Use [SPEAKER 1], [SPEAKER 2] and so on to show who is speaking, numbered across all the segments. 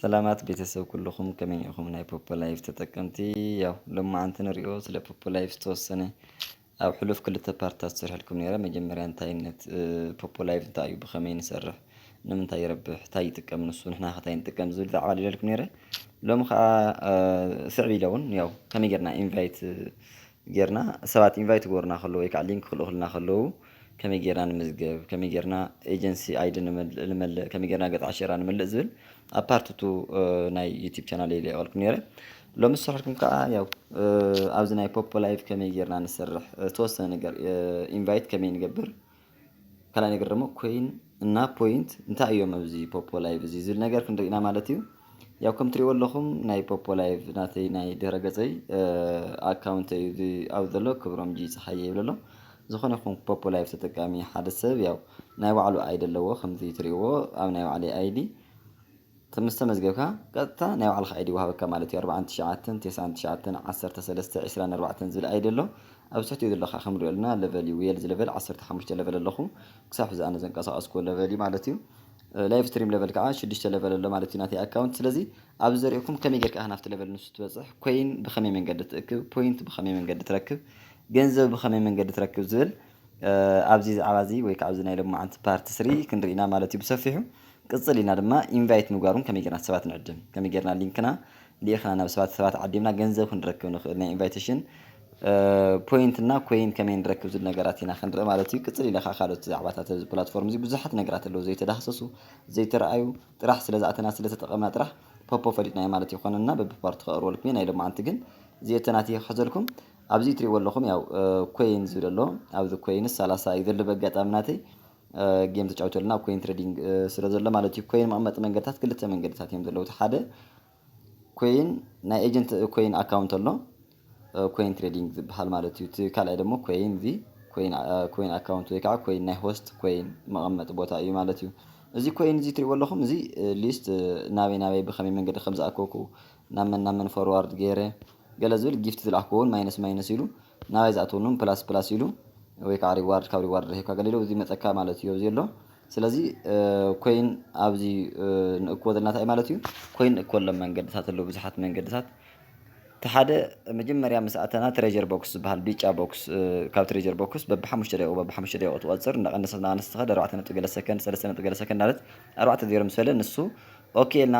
[SPEAKER 1] ሰላማት ቤተሰብ ኩልኹም ከመይ ኢኹም ናይ ፖፖ ላይፍ ተጠቀምቲ ያው ሎማዓንቲ ንሪኦ ስለ ፖፖ ላይፍ ዝተወሰነ ኣብ ሕሉፍ ክልተ ፓርትታት ዝሰርሐልኩም ነይረ መጀመርያ እንታይነት ፖፖ ላይቭ እንታይ እዩ ብኸመይ ንሰርሕ ንምንታይ ይረብሕ እንታይ ይጥቀም ንሱ ንሕና ከ እንታይ ንጥቀም ዝብል ዛዕባ ኣልዒለልኩም ነይረ ሎሚ ከዓ ስዕብ ኢለ እውን ያው ከመይ ጌርና ኢንቫይት ጌርና ሰባት ኢንቫይት ክገብሩና ከለዉ ወይ ከዓ ሊንክ ክልእኹልና ከለዉ ከመይ ጌርና ንምዝገብ ከመይ ጌርና ኤጀንሲ ኣይዲ ንመልእ ከመይ ጌርና ገፅ ዓሸራ ንመልእ ዝብል ኣብ ፓርትቱ ናይ ዩቲብ ቻናል የልቀልኩም ነይረ ሎሚ ዝሰርሕኩም ከኣ ያው ኣብዚ ናይ ፖፖ ላይቭ ከመይ ጌርና ንሰርሕ ዝተወሰነ ነገር ኢንቫይት ከመይ ንገብር ካልኣይ ነገር ደሞ ኮይን እና ፖይንት እንታይ እዮም ኣብዚ ፖፖ ላይቭ እዚ ዝብል ነገር ክንርኢ ኢና ማለት እዩ ያው ከም ትሪእዎ ኣለኹም ናይ ፖፖ ላይቭ ናተይ ናይ ድህረ ገጸይ ኣካውንት እዩ እዚ ኣብ ዘሎ ክብሮም ጂ ፀሓየ ይብል ኣሎ ዝኾነ ይኹን ፖፖ ላይቭ ተጠቃሚ ሓደ ሰብ ያው ናይ ባዕሉ ኣይዲ ኣለዎ ከምዚ ትሪእዎ ኣብ ናይ ባዕለይ ኣይዲ ምስ ተመዝገብካ ቀጥታ ናይ ባዕልኻ ኣይዲ ይወሃበካ ማለት እዩ። ኣርብዓን ትሽዓተን ቴስዓን ትሽዓተን ዓሰርተ ሰለስተ ዒስራን ኣርባዕተን ዝብል ኣይዲ ኣሎ ኣብዚ ትሕቲኡ ዘሎ ካኣ ከም ንሪኦ ኣለና ለቨል እዩ ዌልዝ ለቨል ዓሰርተ ሓሙሽተ ለቨል ኣለኹ ክሳብ ሕዚ ኣነ ዘንቀሳቀስክዎ ለቨል እዩ ማለት እዩ። ላይቭ ስትሪም ለቨል ካኣ ሽዱሽተ ለቨል ኣሎ ማለት እዩ ናተይ ኣካውንት ስለዚ ኣብዚ ዘሪእኩም ከመይ ጌርካ ኢኻ ናብቲ ለቨል ንሱ ትበጽሕ ኮይን ብኸመይ መንገዲ ትእክብ ፖይንት ብኸመይ መንገዲ ትረክብ ገንዘብ ብኸመይ መንገዲ ትረክብ ዝብል ኣብዚ ዝዓባ እዚ ወይ ካኣ ኣብዚ ናይ ሎምዓንቲ ፓርት ስሪ ክንሪኢ ኢና ማለት እዩ ብሰፊሑ። ቅጽል ኢልና ድማ ኢንቫይት ምግባሩን ከመይ ጌርና ሰባት ንዕድም ከመይ ጌርና ሊንክና ሊኢኽና ናብ ሰባት ሰባት ዓዲምና ገንዘብ ክንረክብ ንኽእል ናይ ኢንቫይቴሽን ፖይንት እና ኮይን ከመይ ንረክብ ዝብል ነገራት ኢና ክንርኢ ማለት እዩ ቅፅል ኢለ ከዓ ካልኦት ዛዕባታት ኣብዚ ፕላትፎርም እዚ ብዙሓት ነገራት ኣለዉ ዘይተዳህሰሱ ዘይተረኣዩ ጥራሕ ስለ ዝኣተና ስለ ተጠቐምና ጥራሕ ፖፖ ፈሊጥናዮ ማለት ይኾነና በብፓርቱ ከቕርበልኩም እየ ናይ ሎማዓንቲ ግን እዚኣተ ናተይ ክሕዘልኩም ኣብዚ እትሪእዎ ኣለኹም ያው ኮይን ዝብል ኣሎ ኣብዚ ኮይንስ ሰላሳ እዩ ዘሎ በጋጣሚ ናተይ ጌም ተጫዊቱ ኣለና ኣብ ኮይን ትሬዲንግ ስለ ዘሎ ማለት እዩ ኮይን መቐመጢ መንገድታት ክልተ መንገድታት እዮም ዘለዉ እቲ ሓደ ኮይን ናይ ኤጀንት ኮይን ኣካውንት ኣሎ ኮይን ትሬዲንግ ዝበሃል ማለት እዩ እቲ ካልኣይ ደግሞ ኮይን እዚ ኮይን ኣካውንት ወይ ከዓ ኮይን ናይ ሆስት ኮይን መቐመጢ ቦታ እዩ ማለት እዩ እዚ ኮይን እዚ ትሪእዎ ኣለኹም እዚ ሊስት ናበይ ናበይ ብኸመይ መንገዲ ከም ዝኣከብኩ ናብ መን ናብ መን ፎርዋርድ ገይረ ገለ ዝብል ጊፍት ዝለኣኽክዎ ውን ማይነስ ማይነስ ኢሉ ናባይ ዝኣትወኒ ውን ፕላስ ፕላስ ኢሉ ወይ ከዓ ሪዋርድ ካብ ሪዋርድ ረኺብካ ገለ ኢሉ ይመፀካ ማለት እዩ ኣብዚ ዘሎ ስለዚ ኮይን ኣብዚ ንእክቦ ዘለና እንታይ ማለት እዩ ኮይን ንእክበሎም መንገድታት ኣለዉ ብዙሓት መንገድታት እቲ ሓደ መጀመርያ ምስ ኣተና ትሬዠር ቦክስ ዝብሃል ቢጫ ቦክስ ካብ ትሬዠር ቦክስ በብሓሙሽተ ደቂቁ በብሓሙሽተ ደቂቁ ትቆፅር እናቀነሰት እናቀነሰት ትኸድ ኣርባዕተ ነጥቢ ገለ ሰከንድ ሰለስተ ነጥቢ ገለ ሰከንድ እናበለት ኣርባዕተ ዜሮ ምስ በለ ንሱ ኦኬ ኢልና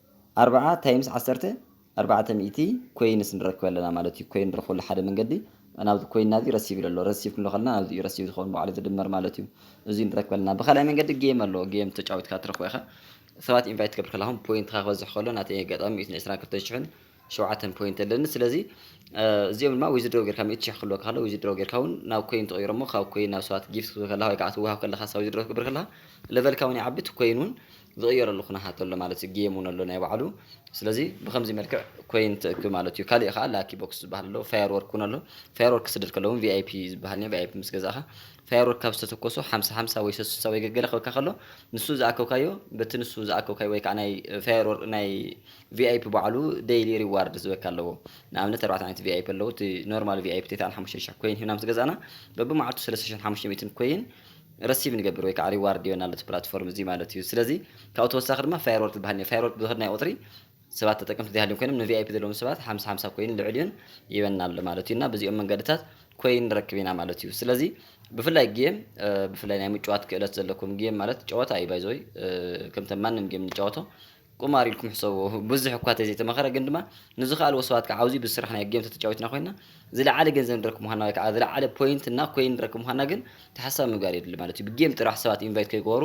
[SPEAKER 1] ኣርብዓ ታይምስ ዓሰርተ ኣርባዕተ ሚእቲ ኮይንስ ንረክብ ኣለና ማለት እዩ። ኮይን ንረክበሉ ሓደ መንገዲ ናብዚ ኮይንና እዚ ረሲቭ ኢሉ ኣሎ። ረሲቭ ክንብሎ ከለና ናብዚ እዩ ረሲቭ ዝኸውን ባዕሉ ዝድመር ማለት እዩ። እዙይ ንረክብ ኣለና። ብካልኣይ መንገዲ ጌም ኣሎ። ጌም ተጫዊትካ ትረክቦ ኢኻ። ሰባት ኢንቫይት ክትገብር ከለኻ ፖይንትኻ ክበዝሕ ከሎ ናተይ ኣጋጣሚ ሚእትን ዕስራን ክልተን ሽሕን ሸውዓተ ፖይንት ኣለኒ ስለዚ እዚኦም ድማ ዊዝድሮ ጌርካ ሚእቲ ሽሕ ክህልወካ ከሎ ዊዝድሮ ጌርካ እውን ናብ ኮይን ትቕይሮ እሞ ካብ ኮይን ናብ ሰባት ጊፍት ክትህብ ከለካ ወይ ከዓ ትወሃብ ከለካ ሳብ ዊዝድሮ ክትገብር ከለካ ለቨልካ እውን ይዓቢ እቲ ኮይን እውን ዝቕየረሉ ኩነታት ኣሎ ማለት እዩ ጌም እውን ኣሎ ናይ ባዕሉ ስለዚ ብከምዚ መልክዕ ኮይን ትእክብ ማለት እዩ ካሊእ ከዓ ላኪ ቦክስ ዝበሃል ኣሎ ፋየር ወርክ እውን ኣሎ ፋየር ወርክ ክስደድ ከሎ እውን ቪኣይፒ ዝበሃል ኒ ቪኣይፒ ምስ ገዛእካ ፋየር ወርክ ካብ ዝተተኮሱ ሓምሳ ሓምሳ ወይ ሰሱሳ ወይ ገገለ ክበካ ከሎ ንሱ ዝኣከብካዮ በቲ ንሱ ዝኣከብካዮ ወይ ከዓ ናይ ፋየር ወርክ ናይ ቪኣይፒ ባዕሉ ደይሊ ሪዋርድ ዝበካ ኣለዎ ንኣብነት ኣርባዕተ ዓይነት ቪኣይፒ ኣለዉ እቲ ኖርማል ቪኣይፒ ቴታን ሓሙሽተ ሽሕ ኮይን ሂብና ምስ ገዛእና በብመዓልቱ ሰለስተ ሽሕን ሓሙሽተ ሚእትን ኮይን ረሲቭ ንገብር ወይ ከዓ ሪዋርድ ይበና ኣሎ እቲ ፕላትፎርም እዚ ማለት እዩ ስለዚ ካብኡ ተወሳኺ ድማ ፋየርወርክ ዝበሃል እኒኦ ፋየርወርክ ብዝኸድናዮ ቁፅሪ ሰባት ተጠቀምቲ ዘይሃልዮም ኮይኖም ንቪኣይፒ ዘለዎም ሰባት ሓምሳ ሓምሳ ኮይን ልዕልዩን ይበና ኣሎ ማለት እዩ እና በዚኦም መንገድታት ኮይን ንረክብ ኢና ማለት እዩ ስለዚ ብፍላይ ጌም ብፍላይ ናይ ምጭዋት ክእለት ዘለኩም ጌም ማለት ጨወታ እዩ ባይዘወይ ከምተ ማንም ጌም ንጫወቶ ቁማር ኢልኩም ሕሰብዎ ብዙሕ እኳ ተዘይተመኸረ ግን ድማ ንዝኸኣልዎ ሰባት ከዓ ኣብዚ ብስራሕ ናይ ጌም ተተጫዊትና ኮይና ዝለዓለ ገንዘብ ንረክብ ምዃና ወይ ከዓ ዝለዓለ ፖይንት እና ኮይን ንረክብ ምዃና ግን ተሓሳቢ ምግባር የድሊ ማለት እዩ ብጌም ጥራሕ ሰባት ኢንቫይት ከይገበሩ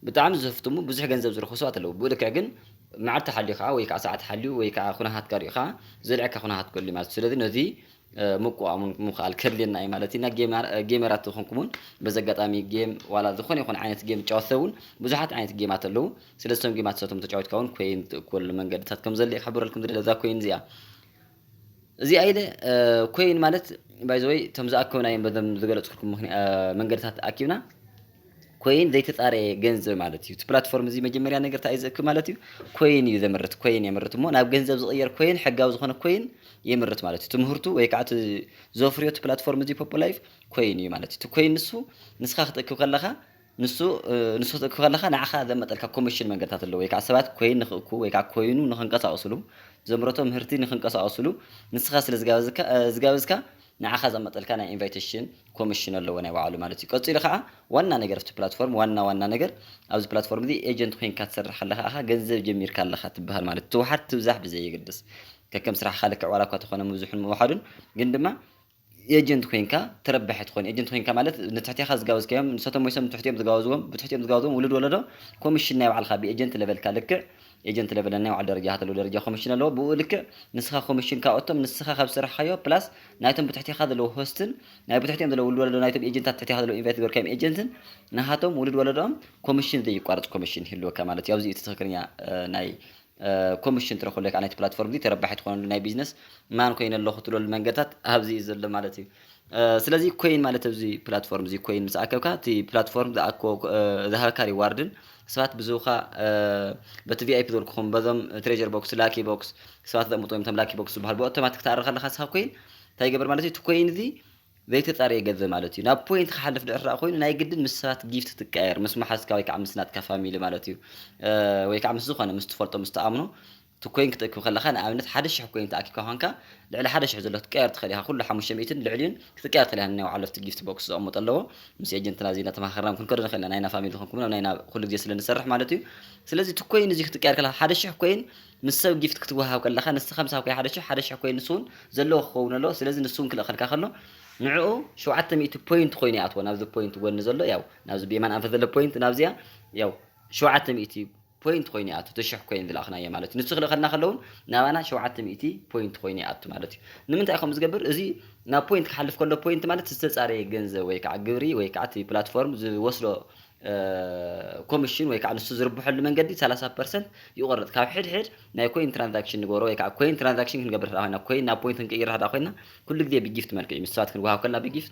[SPEAKER 1] ብጣዕሚ ዝህፍትሙ ብዙሕ ገንዘብ ዝረኽቡ ሰባት ኣለዉ ብኡ ልክዕ ግን መዓልቲ ሓልዩ ከዓ ወይ ከዓ ሰዓት ሓልዩ ወይ ከዓ ኩነታት ቀሪኡካ ዘልዐካ ኩነታት ክህሉ ማለት እዩ ስለዚ ነዚ ምቁዋም ውን ምክኣል ከድልየና እዩ ማለት እዩ እና ጌመራት ዝኮንኩም ውን በዚ ኣጋጣሚ ጌም ዋላ ዝኮነ ይኩን ዓይነት ጌም ዝጫወት ሰብ ውን ብዙሓት ዓይነት ጌማት ኣለው ስለዚ እቶም ጌማት እሳቶም ተጫዊትካ ውን ኮይን ትእክበሉ መንገድታት ከም ዘሎ ክሕብረልኩም ዝደሊ እዛ ኮይን እዚኣ እዚኣ ኢለ ኮይን ማለት ባይዘወይ እቶም ዝኣከብናዮም በዞም ዝገለፅኩልኩም መንገድታት ኣኪብና ኮይን ዘይተፃረየ ገንዘብ ማለት እዩ። እቲ ፕላትፎርም እዚ መጀመርያ ነገር እንታይ እዩ ዘእክብ ማለት እዩ? ኮይን እዩ ዘምርት ኮይን የምርት እሞ ናብ ገንዘብ ዝቕየር ኮይን ሕጋዊ ዝኾነ ኮይን የምርት ማለት እዩ። ትምህርቱ ወይ ከዓ ዘፍርዮ እቲ ፕላትፎርም እዚ ፖፖ ላይፍ ኮይን እዩ ማለት እዩ። እቲ ኮይን ንሱ ንስኻ ክትእክብ ከለኻ ንሱ ንሱ ክትእክብ ከለኻ ንዓኻ ዘመጠልካ ኮሚሽን መንገድታት ኣለዎ ወይ ከዓ ሰባት ኮይን ንክእኩ ወይ ከዓ ኮይኑ ንክንቀሳቀስሉ ዘምረቶ ምህርቲ ንክንቀሳቀስሉ ንስኻ ስለ ዝጋበዝካ ንዓኻ ዘመጠልካ ናይ ኢንቫይተሽን ኮምሽን ኣለዎ ናይ ባዕሉ ማለት እዩ። ቀጺሉ ከኣ ዋና ነገር ኣብቲ ፕላትፎርም ዋና ዋና ነገር ኣብዚ ፕላትፎርም እዚ ኤጀንት ኮይንካ ትሰርሕ ከለኻ እኻ ገንዘብ ጀሚርካ ኣለኻ ትብሃል ማለት እዩ። ትውሓድ ትብዛሕ ብዘየገድስ ከከም ስራሕኻ ልክዕ ዋላ እኳ ተኾነ ምብዝሑን ምውሓዱን ግን ድማ ኤጀንት ኮይንካ ተረባሒ ትኾን። ኤጀንት ኮይንካ ማለት ንትሕቴኻ ዝጋበዝካዮም ንሳቶም ሞይሶም ንትሕቲኦም ዝጋበዝዎም ብትሕቲኦም ዝጋበዝዎም ውሉድ ወለዶ ኮምሽን ናይ ባዕልኻ ብኤጀንት ለቨልካ ልክዕ ኤጀንት ለቨል ነናይ ባዕሉ ደረጃ ሃተሉ ደረጃ ኮምሽን ኣለዎ ብኡ ልክዕ ንስኻ ኮምሽን ካብኦቶም ንስኻ ካብ ዝሰራሕካዮ ፕላስ ናይቶም ብትሕቲኻ ዘለዉ ሆስትን ናይ ብትሕቲኦም ዘለዉ ውሉድ ወለዶ ናይቶም ኤጀንታት ትሕቲኻ ዘለዉ ኢንቫይት ዝበርካዮም ኤጀንትን ንሃቶም ውሉድ ወለዶኦም ኮምሽን ዘይቋርጽ ኮምሽን ይህልወካ ማለት እዩ ኣብዚ እቲ ትኽክለኛ ናይ ኮምሽን ትረክበሉ ከዓ ናይቲ ፕላትፎርም እዚ ተረባሒ ትኾነሉ ናይ ቢዝነስ ማን ኮይነ ኣለኹ ትብለሉ መንገድታት ኣብዚ እዩ ዘሎ ማለት እዩ ስለዚ ኮይን ማለት ኣብዚ ፕላትፎርም እዚ ኮይን ምስ ኣከብካ እቲ ፕላትፎርም ዝኣኮ ዝሃበካ ሪዋርድን ሰባት ብዝውካ በቲ ቪኣይፒ ዘልኩኹም በዞም ትሬጀር ቦክስ ላኪ ቦክስ ሰባት ዘቕምጡ ወይም ቶም ላኪ ቦክስ ዝበሃል ብኦቶማቲክ ትኣርኽ ኣለካ ስኻ ኮይን እንታይ ይገብር ማለት እዩ እቲ ኮይን እዚ ዘይተፃረየ ገንዘብ ማለት እዩ ናብ ፖይንት ክሓልፍ ድዕራ ኮይኑ ናይ ግድን ምስ ሰባት ጊፍት ትቀየር ምስ መሓዝካ ወይ ከዓ ምስ ናትካ ፋሚሊ ማለት እዩ ወይ ከዓ ምስ ዝኾነ ምስ ትፈልጦ ምስ ትኣምኖ እቲ ኮይን ክትእክብ ከለኻ ንኣብነት ሓደ ሽሕ ኮይን ተኣኪብካ ኳንካ ልዕሊ ሓደ ሽሕ ዘሎ ክትቀየር ትኽእል ኢኻ ኩሉ ሓሙሽተ ሚእትን ልዕሊኡን ክትቀየር ትኽእል ኢኻ ንናይ ባዕሉ ኣብቲ ጊፍት ቦክስ ዘቐምጦ ኣለዎ ምስ ኤጀንትና እዚ እናተማኻኸርና ክንከዶ ንኽእል ኢና ናይና ፋሚሊ ዝኾንኩም ናብ ናይና ኩሉ ግዜ ስለ ንሰርሕ ማለት እዩ ስለዚ እቲ ኮይን እዚ ክትቀየር ከለኻ ሓደ ሽሕ ኮይን ምስ ሰብ ጊፍት ክትወሃብ ከለኻ ንስኻ ምሳኻ ኮይን ሓደ ሽሕ ሓደ ሽሕ ኮይን ንሱ እውን ዘለዎ ክኸውን ኣለዎ ስለዚ ንሱ እውን ክልእኸልካ ከሎ ንዕኡ ሸውዓተ ሚእቲ ፖይንት ኮይኑ ይኣትዎ ናብዚ ፖይንት ጎኒ ዘሎ ያው ናብዚ ብየማን ኣንፈት ዘሎ ፖይንት ናብዚኣ ያው ሸውዓተ ሚእቲ ፖይንት ኮይኑ ይኣቱ እቲ ሽሕ ኮይን ዝለኣኽናዮ ማለት እዩ ንሱ ክልእኸልና ከለውን ናባና ሸውዓተ ሚእቲ ፖይንት ኮይኑ ይኣቱ ማለት እዩ ንምንታይ ከምኡ ዝገብር እዚ ናብ ፖይንት ክሓልፍ ከሎ ፖይንት ማለት ዝተፃረየ ገንዘብ ወይ ከዓ ግብሪ ወይ ከዓ እቲ ፕላትፎርም ዝወስዶ ኮሚሽን ወይ ከዓ ንሱ ዝርብሐሉ መንገዲ ሰላሳ ፐርሰንት ይቆርፅ ካብ ሕድሕድ ናይ ኮይን ትራንዛክሽን ንገብሮ ወይ ከዓ ኮይን ትራንዛክሽን ክንገብር ኮይና ኮይን ናብ ፖይንት ክንቅይር ኮይና ኩሉ ግዜ ብጊፍት መልክዕ እዩ ምስ ሰባት ክንወሃብ ከለና ብጊፍት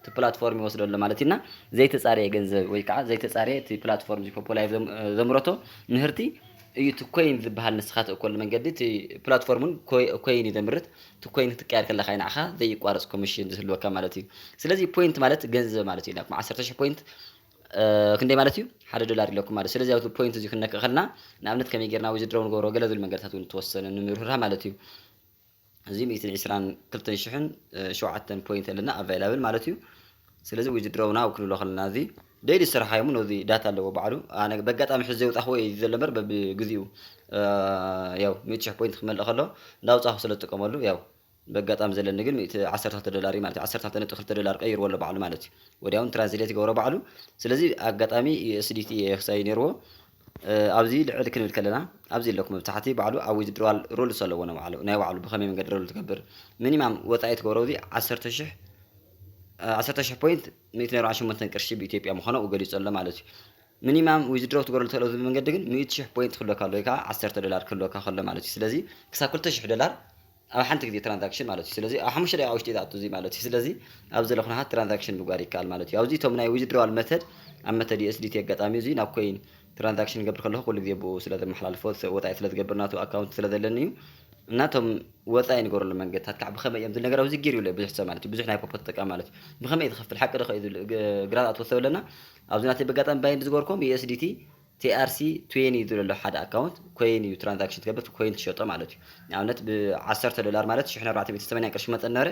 [SPEAKER 1] እቲ ፕላትፎርም ይወስዶ ኣሎ ማለት እዩና ዘይተፃረየ ገንዘብ ወይ ከዓ ዘይተፃረየ እቲ ፕላትፎርም ፖፖላይ ዘምረቶ ምህርቲ እዩ እቲ ኮይን ዝበሃል ንስኻ ትእከሉ መንገዲ እቲ ፕላትፎርም እውን ኮይን እዩ ዘምርት እቲ ኮይን ክትቀየር ከለካ እዩ ንዓኻ ዘይቋረፅ ኮሚሽን ዝህልወካ ማለት እዩ ስለዚ ፖይንት ማለት ገንዘብ ማለት እዩ ናኩም ዓሰርተ ሽሕ ፖይንት ክንደይ ማለት እዩ ሓደ ዶላር ኢለኩም ማለት ስለዚ ኣብዚ ፖይንት እዚ ክንነክእ ከለና ንኣብነት ከመይ ጌርና ወይ ዝድረው ንገብሮ ገለ ዝብል መንገድታት እውን ተወሰነ ንምርህራ ማለት እዩ እዚ ሚእትን ዒስራን ክልተን ሽሕን ሸውዓተን ፖይንት ኣለና ኣቫይላብል ማለት እዩ ስለዚ ዊዝድሮው ናው ክንብሎ ከለና እዚ ደይሊ ዝስራሓ እሞ ነዚ ዳታ ኣለዎ ባዕሉ ኣነ በጋጣሚ ሕዚ ዘውጣኹዎ እዩ ዘሎ እምበር በብግዚኡ ያው ሚእቲ ሽሕ ፖይንት ክመልእ ከሎ እንዳውፃኹ ስለ ዝጥቀመሉ ያው በጋጣሚ ዘለኒ ግን ሚእቲ ዓሰርተ ክልተ ዶላር እዩ ማለት እዩ ዓሰርተ ክልተ ነጥቢ ክልተ ዶላር ቀይርዎ ኣሎ ባዕሉ ማለት እዩ ወዲያውን ትራንስሌት ይገብሮ ባዕሉ ስለዚ ኣጋጣሚ ዩኤስዲቲ ክሳይ ነይርዎ ኣብዚ ልዕል ክንብል ከለና ኣብዚ ኣለኩም መብታሕቲ ባዕሉ ኣብ ዊዝድሮዋል ሩልስ ኣለዎ ናይ ባዕሉ ናይ ባዕሉ ብኸመይ መንገዲ ሩል ትገብር ሚኒማም ወጻኢ ትገብሮ እዚ ዓሰርተ ሽሕ ዓሰርተ ሽሕ ፖይንት ሚእቲ ነርባዓ ሸሞንተን ቅርሺ ብኢትዮጵያ ምዃኑ ኣብኡ ገሊጹ ኣሎ ማለት እዩ ሚኒማም ዊዝድሮው ትገብረሉ ትኽእሎ ዝብል መንገዲ ግን ሚእቲ ሽሕ ፖይንት ክህልወካ ኣሎ ወይ ከዓ ዓሰርተ ዶላር ክህልወካ ከሎ ማለት እዩ ስለዚ ክሳብ ክልተ ሽሕ ዶላር ኣብ ሓንቲ ግዜ ትራንዛክሽን ማለት እዩ ስለዚ ኣብ ሓሙሽተ ደቂቃ ውሽጢ ዝኣቱ እዚ ማለት እዩ ስለዚ ኣብ ዘሎ ኩነታት ትራንዛክሽን ምግባር ይከኣል ማለት እዩ ኣብዚ እቶም ናይ ዊዝድሮዋል መተድ ኣብ መተድ USDT ኣጋጣሚ እዚ ናብ ኮይን ትራንዛክሽን ገብር ከለኹ ኩሉ ግዜ ብኡ ስለ ዘመሓላልፎ ወጻኢ ስለ ዝገብር ናቱ ኣካውንት ስለ ዘለኒ እዩ እና እቶም ወጻኢ ንገረሉ መንገድታት ከዓ ብኸመይ እዮም ዝብል ነገር ኣብዚ ጊር ይብለ ብዙሕ ሰብ ማለት እዩ ብዙሕ ናይ ፖፖ ተጠቃሚ ማለት እዩ ብኸመይ እዩ ዝኸፍል ሓቂ ዶ ከ እዩ ዝብል ግራት ኣትወሰብ ኣለና ኣብዚ ናተይ በጋጣሚ ባይንድ ዝገበርኩም USDT TRC ትዌኒ ዝብል ኣሎ ሓደ ኣካውንት ኮይን እዩ ትራንዛክሽን ትገብር ኮይን ትሸጦ ማለት እዩ ንኣብነት ብ ዓሰርተ ዶላር ማለት ሽሕን ኣርባዕተ ሚእትን ሰማንያን ቅርሺ ክመጸኒ ነበረ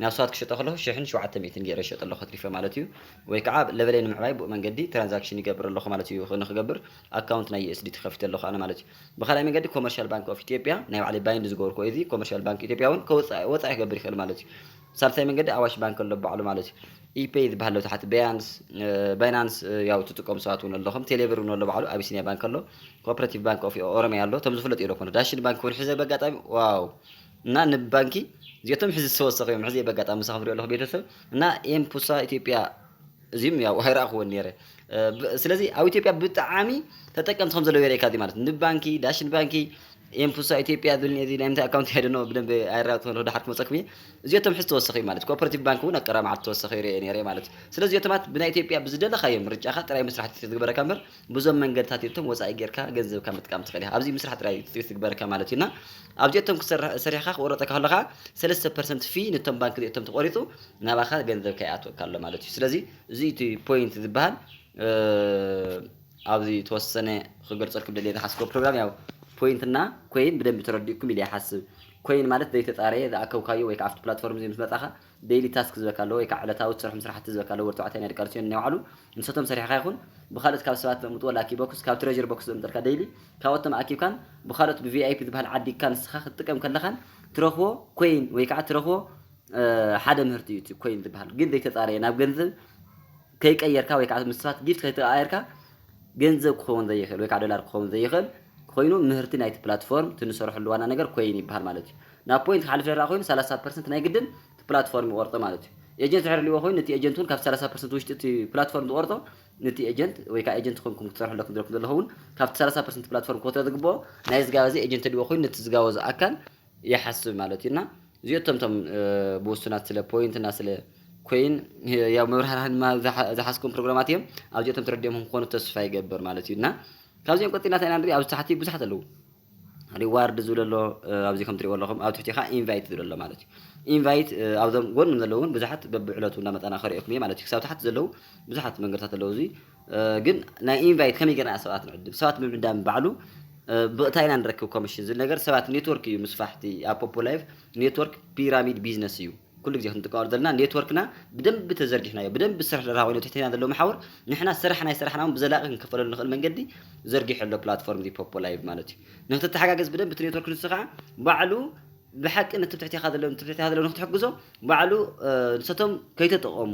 [SPEAKER 1] ናብ ሰባት ክሸጦ ከለኹ ሽሕን ሸውዓተ ሚእትን ገይረ ይሸጦ ኣለኹ ኣትሪፈ ማለት እዩ ወይ ከዓ ለቨለይ ንምዕባይ ብኡ መንገዲ ትራንዛክሽን ይገብር ኣለኹ ማለት እዩ ንክገብር ኣካውንት ናይ USDT ከፊተ ኣለኹ ኣነ ማለት እዩ ብካልኣይ መንገዲ ኮመርሻል ባንክ ኦፍ ኢትዮጵያ ናይ ባዕለይ ባይንድ ዝገበርኩ እዚ ኮመርሻል ባንክ ኢትዮጵያ እውን ወፃኢ ክገብር ይክእል ማለት እዩ ሳልሳይ መንገዲ ኣዋሽ ባንክ ኣሎ ባዕሉ ማለት እዩ ኢፔይ ዝበሃል ኣሎ ትሓቲ በያንስ ባይናንስ ያው ትጥቀሙ ሰባት እውን ኣለኹም ቴሌብር እውን ኣሎ ባዕሉ ኣቢሲኒያ ባንክ ኣሎ ኮፐሬቲቭ ባንክ ኦፍ ኦሮሚያ ኣሎ እቶም ዝፍለጥ እዩ ኮነ ዳሽን ባንክ እውን ሕዘ በጋጣሚ ዋው እና ንባንኪ እዚኦቶም ሕዚ ዝተወሰኸ እዮም ሕዚ በጋጣሚ ምሳኹም ሪኦ ኣለኹ ቤተሰብ እና ኤምፑሳ ኢትዮጵያ እዚም ያው ኣይረኣኹዎን ነይረ ስለዚ ኣብ ኢትዮጵያ ብጣዕሚ ተጠቀምቲ ከም ዘለዉ የርእካ ማለት ንብ ባንኪ ዳሽን ባንኪ ኤምፑሳ ኢትዮጵያ ዝብልኒ እዚ ናይ ምንታይ ኣካውንቲ ሄደኖ ብደንብ ኣይራቱ ከለሁ ድሓር ክመፀኩም እየ እዚኦቶም ሕዚ ተወሰኺ እዩ ማለት ኮፐሬቲቭ ባንክ እውን ኣብ ቀረባ መዓልቲ ተወሰኺ ይርአ ነይረ ማለት ስለዚ እዚኦቶማት ብናይ ኢትዮጵያ ብዝደለኻዮ ምርጫኻ ጥራይ ምስራሕ ትግበረካ እምበር ብዙም መንገድታት የቶም ወፃኢ ጌርካ ገንዘብካ ምጥቃም ትኽእል ኢኻ ኣብዚ ምስራሕ ጥራይ ትግበረካ ማለት እዩና ኣብዚኦቶም ክሰርሕ ሰሪሕካ ክቆረፀካ ከለኻ ሰለስተ ፐርሰንት ፊ ነቶም ባንክ እዚኦቶም ተቆሪፁ ናባኻ ገንዘብ ከይኣትወካ ኣሎ ማለት እዩ ስለዚ እዚ እቲ ፖይንት ዝበሃል ኣብዚ ተወሰነ ክገልፀልኩም ደልየ ዝሓስቦ ፕሮግራም ያው ፖይንትና ኮይን ብደንብ ተረዲእኩም ኢለ ይሓስብ ኮይን ማለት ዘይተፃረየ ዝኣከብካዮ ወይ ከዓ ኣብቲ ፕላትፎርም እዚ ምስ መፃኻ ደይሊ ታስክ ዝበካ ኣለዎ ወይ ከዓ ዕለታዊ ትሰርሖም ስራሕቲ ዝበካ ኣለዎ ወዲ ተባዕታይ ናይ ደቂ ኣንስትዮ ናይ ባዕሉ ንሰቶም ሰሪሕካ ይኹን ብካልኦት ካብ ሰባት ዘምጥዎ ላኪ ቦክስ ካብ ትሬዥር ቦክስ ዘምጠልካ ደይሊ ካብኦቶም ኣኪብካን ብካልኦት ብቪኣይፒ ዝበሃል ዓዲግካ ንስኻ ክትጥቀም ከለኻን ትረኽቦ ኮይን ወይ ከዓ ትረኽቦ ሓደ ምህርቲ እዩ እቲ ኮይን ዝበሃል ግን ዘይተፃረየ ናብ ገንዘብ ከይቀየርካ ወይ ከዓ ምስ ሰባት ጊፍት ከይተቀያየርካ ገንዘብ ክኸውን ዘይኽእል ወይ ከዓ ዶላር ክኸውን ዘይኽእል ኮይኑ ምህርቲ ናይቲ ፕላትፎርም እቲ ንሰርሐሉ ዋና ነገር ኮይን ይበሃል ማለት እዩ ናብ ፖይንት ክሓልፍ ደራ ኮይኑ 30 ፐርሰንት ናይ ግድን እቲ ፕላትፎርም ይቆርፆ ማለት እዩ ኤጀንት ድሕሪ ልዎ ኮይኑ ነቲ ኤጀንት እውን ካብ 30 ፐርሰንት ውሽጢ እቲ ፕላትፎርም ዝቆርፆ ነቲ ኤጀንት ወይ ከዓ ኤጀንት ኮንኩም ክትሰርሑ ኣለኩም ዘለኩም ዘለኹ እውን ካብቲ 30 ፐርሰንት ፕላትፎርም ክወትረ ዝግብኦ ናይ ዝጋበዘ ኤጀንት ልዎ ኮይኑ ነቲ ዝጋበዞ ኣካል ይሓስብ ማለት እዩ እና እዚኦቶም ቶም ብውሱናት ስለ ፖይንት እና ስለ ኮይን ያው መብርሃርሃን ድማ ዝሓስኩም ፕሮግራማት እዮም ኣብዚኦቶም ተረዲኦም ክኾኑ ተስፋ ይገብር ማለት እዩ እና ካብዚኦም ቀፂልና እንታይ ኢና ንሪኢ ኣብዚ ታሕቲ ብዙሓት ኣለዉ ሪዋርድ ዝብል ኣሎ ኣብዚ ከም ትሪእዎ ኣለኹም ኣብ ትሕቲ ከዓ ኢንቫይት ዝብል ኣሎ ማለት እዩ ኢንቫይት ኣብዞም ጎንም ዘለዉ እውን ብዙሓት በብዕለቱ እናመፃና ከሪኦኩም እየ ማለት እዩ ክሳብ ታሕቲ ዘለዉ ብዙሓት መንገድታት ኣለዉ እዚ ግን ናይ ኢንቫይት ከመይ ጌርና ኢና ሰባት ንዕድም ሰባት ምዕዳም ባዕሉ ብእታይ ኢና ንረክብ ኮሚሽን ዝብል ነገር ሰባት ኔትወርክ እዩ ምስፋሕቲ ኣብ ፖፖ ላይቭ ኔትወርክ ፒራሚድ ቢዝነስ እዩ ኩሉ ግዜ ክንጥቀመሉ ዘለና ኔትወርክና ብደንቢ ተዘርጊሕናዮ ብደንቢ ስራሕ ደርሃ ኮይኑ ትሕተና ዘሎ መሓውር ንሕና ስራሕ ናይ ስራሕና እውን ብዘላቂ ክንከፈለሉ ንኽእል መንገዲ ዘርጊሑ ኣሎ ፕላትፎርም እዚ ፖፖ ላይቭ ማለት እዩ ንክትተሓጋገዝ ብደንቢ እቲ ኔትወርክ ንሱ ከዓ ባዕሉ ብሓቂ ንትብ ትሕቴኻ ዘለዉ ንትብ ትሕቴኻ ዘለዉ ንክትሕግዞ ባዕሉ ንሰቶም ከይተጠቐሙ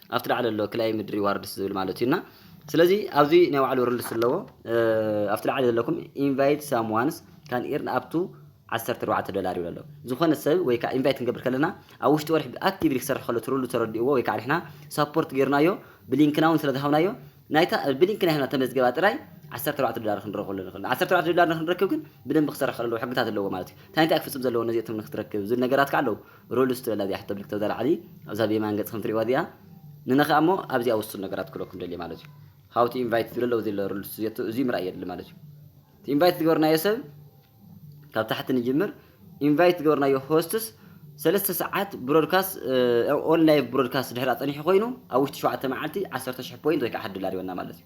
[SPEAKER 1] ኣብቲ ላዕሊ ዘሎ ክላይምድ ሪዋርድስ ዝብል ማለት እዩና ስለዚ ኣብዚ ናይ ባዕሉ ርልስ ኣለዎ ኣብቲ ላዕሊ ዘለኩም ኢንቫይት ሳም ዋንስ ካን ኢርን ኣብቱ 14 ዶላር ይብሎ ኣሎ ዝኾነ ሰብ ወይ ከዓ ኢንቫይት ክንገብር ከለና ኣብ ውሽጢ ወርሒ ኣክቲቭሊ ክሰርሕ ከሎ ትርሉ ተረድእዎ ወይ ከዓ ንሕና ሳፖርት ጌርናዮ ብሊንክና እውን ስለዝሃብናዮ ናይታ ብሊንክና ሂብና ተመዝገባ ጥራይ 14 ዶላር ክንረኽበሉ ንኽእል 14 ዶላር ንክንረክብ ግን ብደንብ ክሰርሕ ከለዎ ሕግታት ኣለዎ ማለት እዩ እንታይ እንታይ ክፍፅም ዘለዎ ነዚኦትም ንክትረክብ ዝብል ነገራት ከዓ ኣለዉ ሮልስ ትብል ኣብዚኣ ሕቶ ምልክት ኣብዛ ላዕሊ ኣብዛ ኣብ የማን ገጽ ከም ትርእይዋ እዚኣ ንነኽኣ እሞ ኣብዚኣ ውሱን ነገራት ክብለኩም ደልየ ማለት እዩ ሃው ቱ ኢንቫይት ዝብለ ኣለዎ ዘሎ ሮልስ ዝየቱ እዚ ምርኣይ የድሊ ማለት እዩ እቲ ኢንቫይት ዝገበርናዮ ሰብ ካብ ታሕቲ ንጅምር ኢንቫይት ዝገበርናዮ ሆስትስ
[SPEAKER 2] ሰለስተ ሰዓት ብሮድካስት ኦን ላይቭ ብሮድካስት ድሕር ኣጸኒሑ ኮይኑ ኣብ ውሽጢ ሸውዓተ መዓልቲ ዓሰርተ ሽሕ ፖይንት ወይ ከዓ ሓደ ዶላር ይወና ማለት እዩ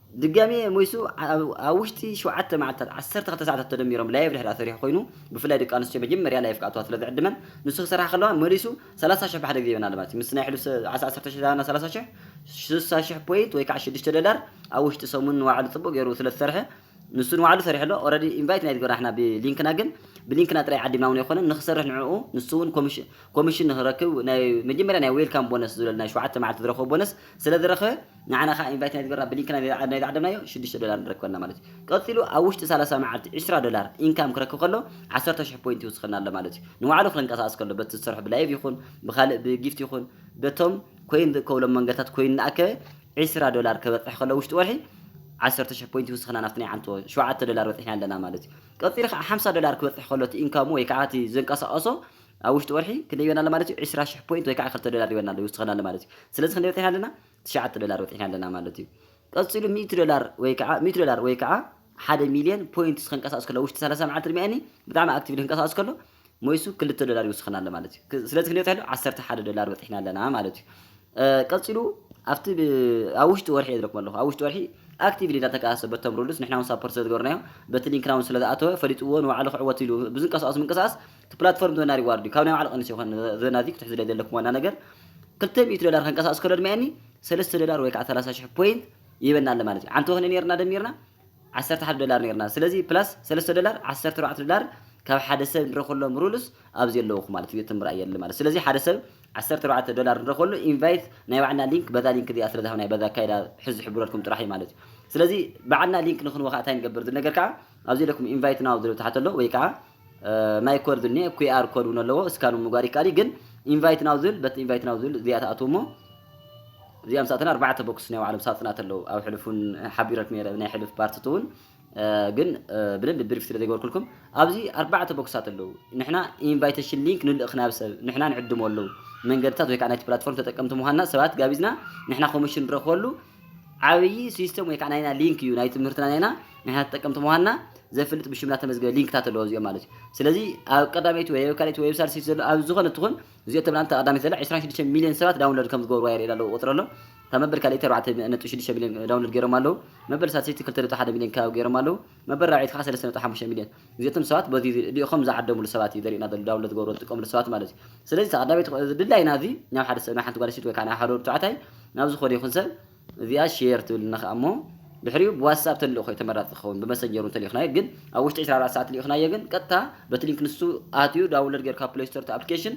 [SPEAKER 2] ድጋሜ ሞይሱ ኣብ ውሽጢ ሸውዓተ መዓልትታት ዓሰርተ ክልተ ሰዓታት ተደሚሮም ላይቭ ድሕሪ ኣሰሪሑ ኮይኑ ብፍላይ ደቂ ኣንስትዮ መጀመርያ ላይቭ ክኣትዋ ስለ ዝዕድመን ንሱ ክሰርሓ ከለዋ መሊሱ ሰላሳ ሽሕ ብሓደ ግዜ ይበና ኣሎ ማለት እዩ ምስ ናይ ሕሉፍ ዓሳ ዓሰርተ ሽሕ ዝሃበና ሰላሳ ሽሕ ስሳ ሽሕ ፖይንት ወይ ከዓ ሽዱሽተ ደላር ኣብ ውሽጢ ሰሙን ንዋዕሉ ጽቡቅ ገይሩ ስለ ዝሰርሐ ንሱ ንዋዕሉ ሰሪሑ ኣሎ ኦረዲ ኢንቫይት ናይ ዝገበርና ንሕና ብሊንክና ግን ብሊንክና ጥራይ ዓዲምና እውን ኣይኮነን ንክሰርሕ ንዕኡ ንሱ እውን ኮሚሽን ንክረክብ ናይ መጀመርያ ናይ ዌልካም ቦነስ ዝብለል ናይ ሸውዓተ መዓልቲ ዝረክቦ ቦነስ ስለ ዝረክበ ንዓና ከኣ ኢንቫይት ናይ ዝገበርና ብሊንክ ናይ ዝዓደምናዮ ሽዱሽተ ዶላር ንረክበልና ማለት እዩ። ቀጺሉ ኣብ ውሽጢ ሰላሳ መዓልቲ ዕስራ ዶላር ኢንካም ክረክብ ከሎ ዓሰርተ ሽሕ ፖይንት ይውስኸና ኣሎ ማለት እዩ። ንባዕሉ ክረንቀሳቅስ ከሎ በቲ ዝሰርሖ ብላይቭ ይኹን ብኻልእ ብጊፍት ይኹን በቶም ኮይን ዝእከብሎም መንገድታት ኮይን እናኣከበ ዕስራ ዶላር ከበጽሕ ከሎ ውሽጢ ወርሒ ዓሰርተ ሽሕ ፖይንት ይውስኸና ናብቲ ናይ ዓንቶ ሸውዓተ ዶላር በጺሕና ኣለና ማለት እዩ። ቀጺሉ ከኣ ሓምሳ ዶላር ክበጽሕ ከሎ እቲ ኢንካሙ ወይ ከኣ እቲ ዘንቀሳቀሶ ኣብ ውሽጢ ወርሒ ክንደይ ይበና ኣሎ ማለት እዩ ዕስራ ሽሕ ፖይንት ወይ ከዓ ክልተ ዶላር ይበና ኣሎ ይውስኸና ኣሎ ማለት እዩ ስለዚ ክንደይ ወጢሕና ኣለና ትሽዓተ ዶላር ወጢሕና ኣለና ማለት እዩ ቀፂሉ ሚእቲ ዶላር ወይ ከዓ ሚእቲ ዶላር ወይ ከዓ ሓደ ሚልዮን ፖይንትስ ከንቀሳቅስ ከሎ ውሽጢ ሰላሳ መዓልቲ ድሚያኒ ብጣዕሚ ኣክቲቭ ክንቀሳቅስ ከሎ ሞይሱ ክልተ ዶላር ይውስኸና ኣሎ ማለት እዩ ስለዚ ክንደይ ወጢሕና ኣሎ ዓሰርተ ሓደ ዶላር ወጢሕና ኣለና ማለት እዩ ቀፂሉ ኣብቲ ኣብ ውሽጢ ወርሒ እየ ዝረክቦ ኣለኹ ኣብ ውሽጢ ወርሒ ኣክቲቭሊ እናተንቀሳቀሰ በቶም ሩሉስ ንሕና እውን ሳፖርት ስለዝገበርናዮ በቲ ሊንክና እውን ስለዝኣተወ ፈሊጥዎ ንባዕሉ ክዕወት ኢሉ ብዝንቀሳቀስ ምንቅስቃስ እቲ ፕላትፎርም ዝወና ሪዋርድ እዩ ካብ ናይ ባዕሉ ቀንስ ይኾን ዝወና እዚ ክትሕዝለ ዘለኩም ዋና ነገር ክልተ ሚእቲ ዶላር ከንቀሳቅስ ከሎ ድማኒ ሰለስተ ዶላር ወይ ከዓ ሰላሳ ሽሕ ፖይንት ይበና ኣሎ ማለት እዩ ዓንተ ወክነ ነርና ደሚርና ዓሰርተ ሓደ ዶላር ነርና ስለዚ ፕላስ ሰለስተ ዶላር ዓሰርተ ኣርባዕተ ዶላር ካብ ሓደ ሰብ ንረክሎም ሩልስ ኣብዚ ኣለውኹ ማለት እዩ ትም ርኣይ የለ ማለት ስለዚ ሓደ ሰብ ዓሰርተ ኣርባዕተ ዶላር ንረክበሉ ኢንቫይት ናይ ባዕልና ሊንክ በዛ ሊንክ እዚኣ ስለ ዝሃብና በዛ ኣካይዳ ሕዚ ዝሕብረልኩም ጥራሕ እዩ ማለት እዩ ስለዚ ባዕልና ሊንክ ንክንወ ከዓ እንታይ ንገብር ዝብል ነገር ከዓ ኣብዚ ለኩም ኢንቫይት ናው ዝብል ተሓተሎ ወይ ከዓ ናይ ኮድ ዝል ኔ ኩኣር ኮድ ውን ኣለዎ እስካን ምግባር ይካል ግን ኢንቫይት ናው ዝል በት ኢንቫይት ናው ዝል እዚኣ ትኣትው እሞ እዚኣ ምስ ኣተና ኣርባዕተ ቦክስ ናይ ባዕሎም ሳጥናት ኣለዉ ኣብ ሕልፉን ሓቢረክ ነረ ናይ ሕልፍ ፓርትት እውን ግን ብደንብ ብሪፍ ስለ ዘይገበርኩልኩም ኣብዚ ኣርባዕተ ቦክሳት ኣለዉ ንሕና ኢንቫይቴሽን ሊንክ ንልእኽ ናብ ሰብ ንሕና ንዕድሞ ኣለዉ መንገድታት ወይ ከዓ ናይቲ ፕላትፎርም ተጠቀምቲ ምዃንና ሰባት ጋቢዝና ንሕና ኮሚሽን ንረኽበሉ ዓብዪ ሲስተም ወይ ከዓ ናይና ሊንክ እዩ ናይ ትምህርትና ናይና ናይና ተጠቀምቲ ምዃንና ዘፍልጥ ብሽምና ተመዝገበ ሊንክታት ኣለዎ እዚኦም ማለት እዩ ስለዚ ኣብ ቀዳመይቲ ወይ ኣብ ካልኣይቲ ዌብሳይት ሲት ዘሎ ኣብ ዝኾነ ትኹን እዚኦ ተብላን ተቐዳመይቲ ዘላ 26 ሚሊዮን ሰባት ዳውንሎድ ከም ዝገብርዋ የርእየና ኣለዎ ቁፅሪ ኣሎ ካብ መበል ካልኣይቲ 4.6 ሚሊዮን ዳውንሎድ ገይሮም ኣለዉ መበል ሳልሰይቲ 2.1 ሚሊዮን ከባቢ ገይሮም ኣለዉ መበል ራብዒት ከዓ 3.5 ሚሊዮን እዚኣቶም ሰባት በዚ እዚኦም ዝዓደምሉ ሰባት እዩ ዘርእየና ዘሎ ዳውንሎድ ዝገብርዎ ዝጥቀምሉ ሰባት ማለት እዩ ስለዚ ተቀዳመይቲ ክእ እዚ ድላይና እዚ ናብ ሓደ ሰብ ናብ ሓንቲ ጓል ኣንስተይቲ ወይ ከዓ ናብ ሓደ ወዲ ተባዕታይ ናብ ዝኾነ ይኹን ሰብ እዚኣ ሼር ትብልና ከዓ እሞ ድሕሪኡ ብዋትስኣፕ ተልእኾ እዩ ተመራፂ ዝኸውን ብመሰንጀር እውን ተልኢኽናዮ ግን ኣብ ውሽጢ 24 ሰዓት ልኢኽናዮ ግን ቀጥታ በቲ ሊንክ ንሱ ኣትዩ ዳውንሎድ ገይሩ ካብ ፕሌይ ስቶር እቲ ኣፕሊኬሽን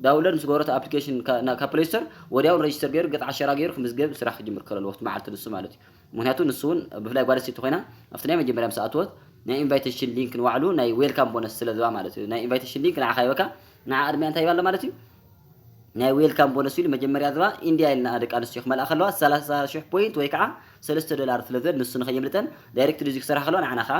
[SPEAKER 2] ዳውንሎድ ምስ ገበሮ እቲ ኣፕሊኬሽን ካብ ፕሌይ ስቶር ወዲያውን ሬጅስተር ገይሩ ገፅ ዓሸራ ገይሩ ክምዝገብ ስራሕ ክጅምር ከለዎ እቲ መዓልቲ ንሱ ማለት እዩ ምክንያቱ ንሱ ውን ብፍላይ ጓል ኣንስተይቲ ኮይና ኣብቲ ናይ መጀመርያ ምስ ኣተወት ናይ ኢንቫይተሽን ሊንክ ንባዕሉ ናይ ዌልካም ቦነስ ስለ ዝባ ማለት እዩ ናይ ኢንቫይተሽን ሊንክ ንዓኻ ይበካ ንዓ ቅድሚያ እንታይ ይባላ ማለት እዩ ናይ ዌልካም ቦነስ ኢሉ መጀመርያ ዝባ ኢንዲያ ኢልና ደቂ ኣንስትዮ ክመልኣ ከለዋ ሰላሳ ሽሕ ፖይንት ወይ ከዓ ሰለስተ ዶላር ስለ ዝብል ንሱ ንከየምልጠን ዳይሬክትሊ እዚ ክሰርሓ ከለዋ ንዓና ከዓ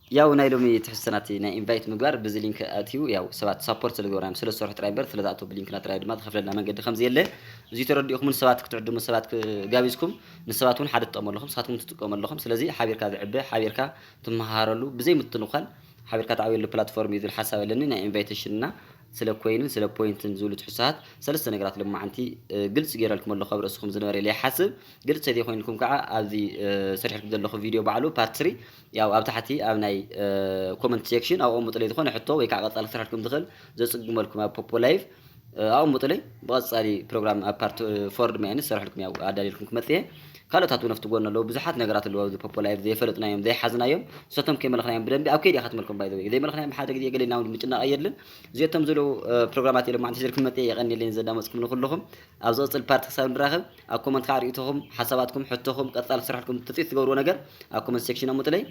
[SPEAKER 2] ያው ናይ ሎሚ ትሕዝቶና እቲ ናይ ኢንቫይት ምግባር ብዚ ሊንክ ኣእትዩ ያው ሰባት ሳፖርት ስለ ዝገብሩና ስለ ዝሰርሑ ጥራይ እምበር ስለ ዝኣተው ብሊንክና ጥራይ ድማ ዝኸፍለና መንገዲ ከም ዘየለ እዚ ተረዲእኹም ንሰባት ክትዕድሙ ሰባት ጋቢዝኩም ንሰባት እውን ሓደ ትጠቕሙ ኣለኹም ንስኻትኩም ትጥቀሙ ኣለኹም ስለዚ ሓቢርካ ዝዕበ ሓቢርካ ትመሃሃረሉ ብዘይ ምትንዃል ሓቢርካ ትዓብየሉ ፕላትፎርም እዩ ዝብል ሓሳብ ኣለኒ ናይ ኢንቫይቴሽን እና ስለ ኮይንን ስለ ፖይንትን ዝብሉ ትሕዝቶታት ሰለስተ ነገራት ሎማዓንቲ ግልፂ ገይረልኩም ኣለኹ ኣብ ርእስኹም ዝነበረ ኢለ ይሓስብ ግልፂ ተዘይኮይንልኩም ከዓ ኣብዚ ሰሪሕልኩም ዘለኹ ቪድዮ ባዕሉ ፓርት ስሪ ያው ኣብ ታሕቲ ኣብ ናይ ኮመንት ሴክሽን ኣቐሙጡለይ ዝኾነ ሕቶ ወይ ከዓ ቀጻሊ ክስራሕኩም ዝኽእል ዘጽግመልኩም ኣብ ፖፖ ላይቭ ኣቐሙጡለይ ብቐጻሊ ፕሮግራም ኣብ ፓርት ፎርድ መያኒ ዝሰርሐልኩም ያው ኣዳልየልኩም ክመጽ እየ ካልኦታት እውን ኣብቲ ጎኒ ኣለዉ ብዙሓት ነገራት ኣለዉ ኣብዚ ፖፖ ላይቭ ዘይፈለጥናዮም ዘይሓዝናዮም ንሳቶም ከይመለኽናዮም ብደንቢ ኣብ ከይዲ ኢኻ ትመልኩም ባይ ዘወይ ዘይመለኽናዮም ብሓደ ግዜ ገለ ኢልና እውን ምጭናቕ የድልን እዚኦቶም ዘለዉ ፕሮግራማት ኢሎም ማዕንቲ ሒዘልኩም መጽ እየ የቐኒለይ ዘዳመፅኩም ንኩልኹም ኣብ ዝቕፅል ፓርቲ ክሳብ ንራኸብ ኣብ ኮመንት ካኣ ሪኢቶኹም ሓሳባትኩም ሕቶኹም ቀጻሊ ክስርሐልኩም ትጽቢት ትገብርዎ ነገር ኣብ ኮመንት ሴክሽን ኣሙጥለይ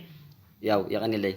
[SPEAKER 2] ያው የቀኒለይ